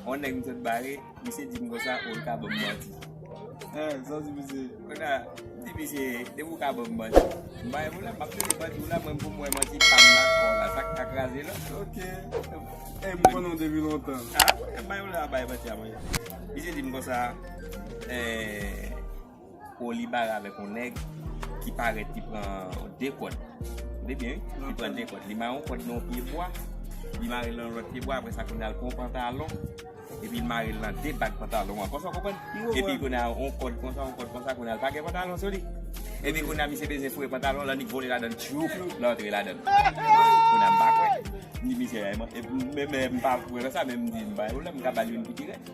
On nèg m sot bare, misye di m konsa ou l ka ban m manti. Eh, sa w di misye? Kounye a, m di misye, depi ou ka ban m manti, m ba w la, m ap mete manti w la, mwen menm pou m wè manti pa m la ak pa w la, sa k ka kraze l an. Ok. Eh, m konnen w depi lontan. Ah, m ba w la, bay manti a mwen. Misye di m konsa, eh. Kò li bare avèk yon nèg ki parèt ki pran 2 kòd. Tande byen wi, ki pran 2 kòd. Li mare yon kòd nan yon pye bwa, li mare l nan yon lòt pye bwa, apre sa kounye a l pran yon pantalon, epi l mare l nan 2 bak pantalon an. Kòmanse w konprann? M konprann. Epi kounye a yon kòd konsa, yon kòd konsa, kounye a l pa gen pantalon sou li. Epi kounye a misye bezwen foure pantalon lan, li vole ladan l tchoup, l antre ladan l. Kounye a m pa kwè. M di misye, men m pa kwè nan sa, men m di m pa gen pwoblèm, m ka ba l youn ki pi rèd.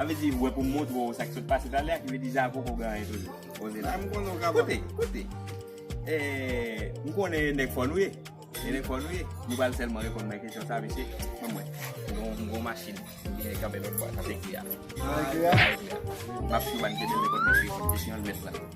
Sa vle di ou wè pou m montre w sa ki sot pase talè a ki vle di Javo ko gen anyen toujou. Koze la. Koute, koute. Eee, m konnen e nèg fò nou ye. E nèg fò nou ye. Nou pral sèlman reponn mwen kesyon sa mesye. Ban mwen. M gon machin. M gen kanpe lòt bò a. Sa se ki a. Sa se ki a. M ap swiv Anne Kennel repon mesye kesyon l mèt la.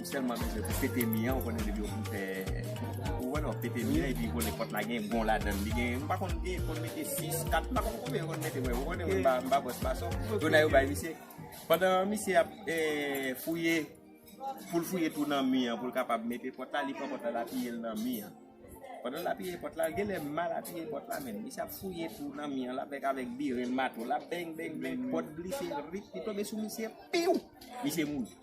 Ou selman bezwen pou pete mi an, ou konnen depi ou fin fè, ou wè non, pete mi an epi ou konnen pòt la gen bon ladann, li gen, m pa konn gen, konn mete 6, 4, m pa konn konbyen yo konn mete mwen, ou konnen mwen pa, m pa bòs mason, donè yo bay misye, pandan misye ap fouye, pou l fouye tou nan mi an pou l kapab mete pòt la, li pran pòt la l apiye l nan mi an, pandan l apiye pòt la, gen lè m mal apiye pòt la menm, misye ap fouye tou nan mi an, l ap fèk avèk biren, mato, l ap beng beng beng, pòt glise, rip, li tonbe sou misye, piww! Misye mouri.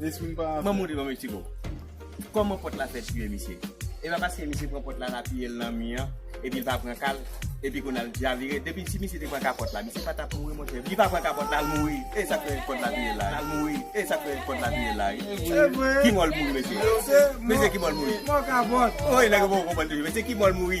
Mwen mouri nan Mexico. Koman pot la fè tiye misye? E pa paske misye pran pot la lapiye l nan mi an, epi l pa pran ka l, epi kounye a l chavire. Depi si misye te pran ka pot la, misye pa t ap mouri monchè. Li pa pran ka pot la, l mouri. E sa k fè pot la touye l la? L mouri. E sa k fè pot la touye l la? Ki mò l mouri mesye? Mesye ki mò l mouri? Mò ka pot. Woy nèg yo poko konprann toujou. Mesye ki mò l mouri?